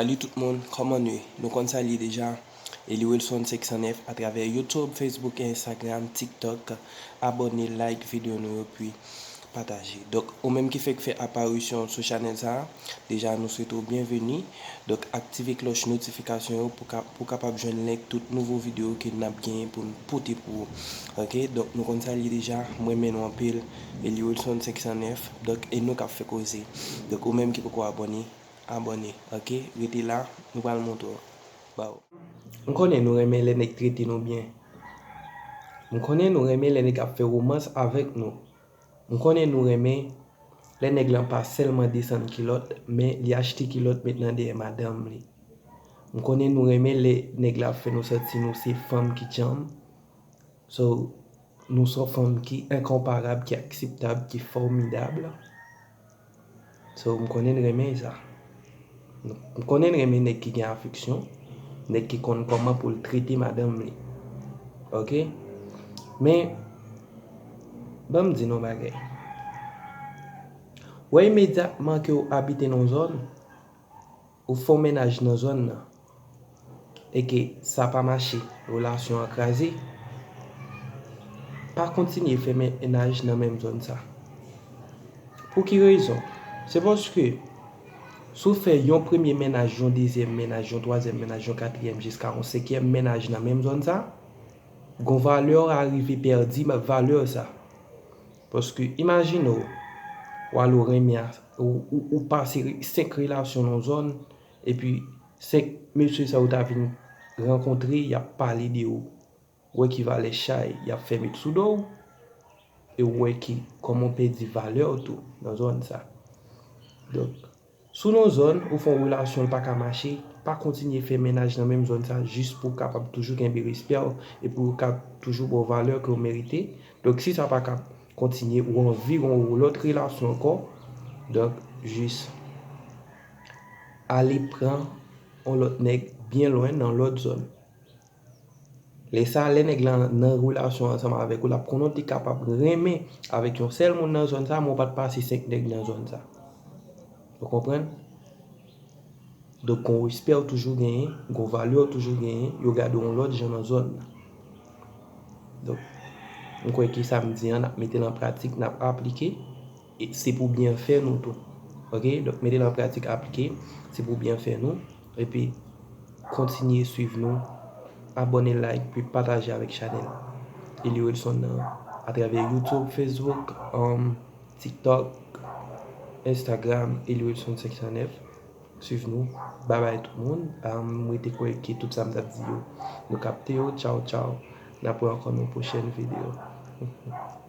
Salut tout moun kòman nu ye nou konn sa li ye deja Eli Wilson 509 atravè YouTube Facebook et Instagram TikTok abòne like video nou yo pi pataje. Donk ou menm ki fèk fè aparisyon sou chanèl sa a deja nou swete w byenveni. Donk aktive klòch notifikasyon yo pou ka pou w kapab jwenn link tout nouvo videyo ke n ap genyen pou n pote pou ou ok. Donk nou konn sa l ye deja m renmen nou anpil Eliwilson 509 donk e nou k ap fè koze. Donk ou menm ki poko abòne abòne ok rete la nou pral montre w. baw. M konnen nou renmen lè nèg trete nou byen M konnen nou renmen lè nèg ap fè romans avèk nou M konnen nou renmen lè nèg lan pa sèlman desann kilòt men li achte kilòt met nan dèyè madanm li M konnen nou renmen lè nèg la ap fè nou santi nou se fanm ki djanm So nou son fanm ki enkonparab ki akseptab ki fòmidab. So m konnen n renmen sa. M konnen n renmen nèg ki gen afeksyon, nèg ki konn kòman pou l trete madanm li. Ok? Men, ban m di nou yon bagay. Wè imedyatman ke w abite nan yon zòn, Ou fon mennaj nan zòn nan e ke sa pa mache, relasyon an kraze, pa kontinye fè mennaj nan menm zòn sa. Pou ki rezon? Se paske si w fè yon premye mennaj, yon dezyèm mennaj, yon twazyèm mennaj, yon katriyèm jiska yon senkyèm mennaj nan menm zòn sa, gon valè w arive pèdi valè sa. Paske imajine w, wale w renmen a, ou pase 5 relasyon nan yon zòn, epi 5 mesye sa yo ta vin rankontre, y ap pale de ou, ou wè ki valè chay y ap fè met sou do w, e ou wè ki kòman w pèdi valè w tou nan zòn sa. Donk, Si w nan zòn, ou fè yon relasyon l pa ka mache, pa kontinye fè mennaj nan menm zòn sa jis pou w kapab toujou kenbe respè w e pou yo ka toujou ba w valè ke w merite. Donk si sa pa ka kontinye, ou anvi gen yon lòt relasyon ankò, donk jis ale pran yon lòt nèg byen lwen nan lòt zòn. Lè sa a, lè nèg lan nan relasyon ansanm avèk ou, l ap konnen w te kapab renmen avèk yon sèl moun nan zòn sa a, men w pa t pase senk nèg nan zòn sa a. Ou konprann? Donk, gon respè ou toujou genyen, gon valè ou toujou genyen, yo gade w yon lòt jan nan zòn nan. Donk, m kwè ke sa m di an, n ap mete l an pratik, n ap aplike. Se pou byenfè nou tou. Ok, donk mete l an pratik, aplike. Se pou byenfè nou. Epi, kontinye swiv nou. Abòne, like, epi pataje avèk chanèl Eli Wilson nan atravè YouTube, Facebook, TikTok, Instagram, Eli Wilson 509. Swiv nou. Babay tout moun. M rete kwè ke tout sa m t ap di yo, nou kapte yo. Tchaw tchaw. N ap wè ankò nan yon pwochèn videyo.